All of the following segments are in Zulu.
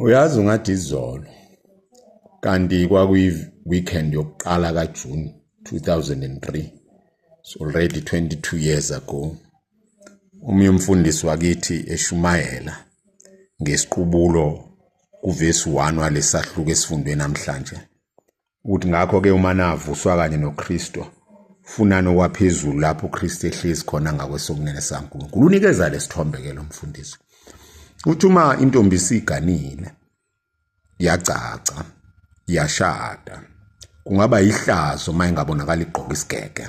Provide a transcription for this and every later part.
Uyazi ungathi izolo kanti kwakuyi weekend yokuqala ka June 2003 so already 22 years ago omunye umfundisi wakithi eshumayela ngesiqubulo kuvesi 1 walesahluko esifundwe namhlanje ukuthi ngakho ke uma navuswa kanye noKristu funani okwaphezulu lapho uKristu ehlezi khona ngakwesokunene saNkulunkulu unikeza lesithombe ke lo mfundisi uthi uma intombi isiganile yagcagca yashada kungaba yihlazo uma ingabonakala igqoka isigege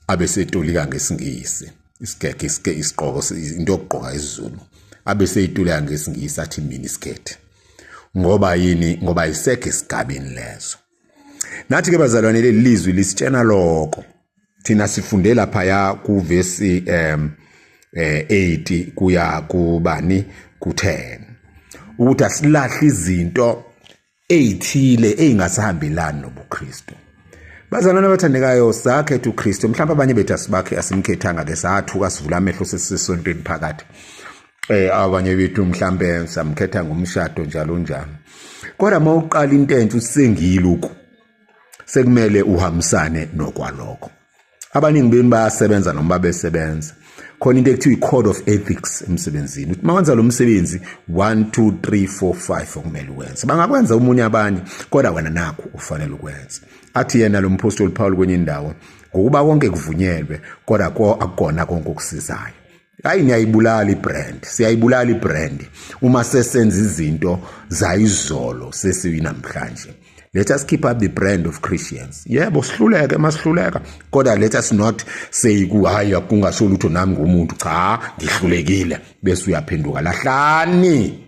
abe setolika ngesingisi isigege isike isigqoko into yokugqoka isiZulu abe seyitolika ngesingisi athi mini skirt ngoba yini ngoba isekho isigabini lezo nathi ke bazalwane leli lizwi lisitshena lokho thina sifunde lapha ya kuvesi um eh 8 kuya kubani ku10 ukuthi asilahle izinto ezithile ezingasihambelani nobuKristu Bazalwane abathandekayo sakhetha uKristu mhlawumbe abanye bethu asibakhe asimkhethanga ke sathuka sivula amehlo sesisontweni phakathi eh abanye bethu mhlambe samkhetha ngomshado njalo njalo kodwa uma uqala into entsha usengile uku sekumele uhambisane nokwaloko abaningi benu bayasebenza noma besebenza khona into ekuthiwa i-code of ethics emsebenzini ukuthi uma wenza lo msebenzi 1 2 3 4 5 okumele uwenze bangakwenza omunye abanye kodwa wena nakho ufanele ukwenza athi yena lo mphostoli Paul kwenye indawo ngokuba konke kuvunyelwe kodwa akukona konke okusizayo hayi niyayibulala ibrand siyayibulala ibrand uma sesenza izinto zayizolo sesiyinamhlanje let us keep up the brand of christians yebo sihluleke masihluleka kodwa let us not say kuhayi kungasho lutho nami ngomuntu cha ngihlulekile bese uyaphenduka lahlani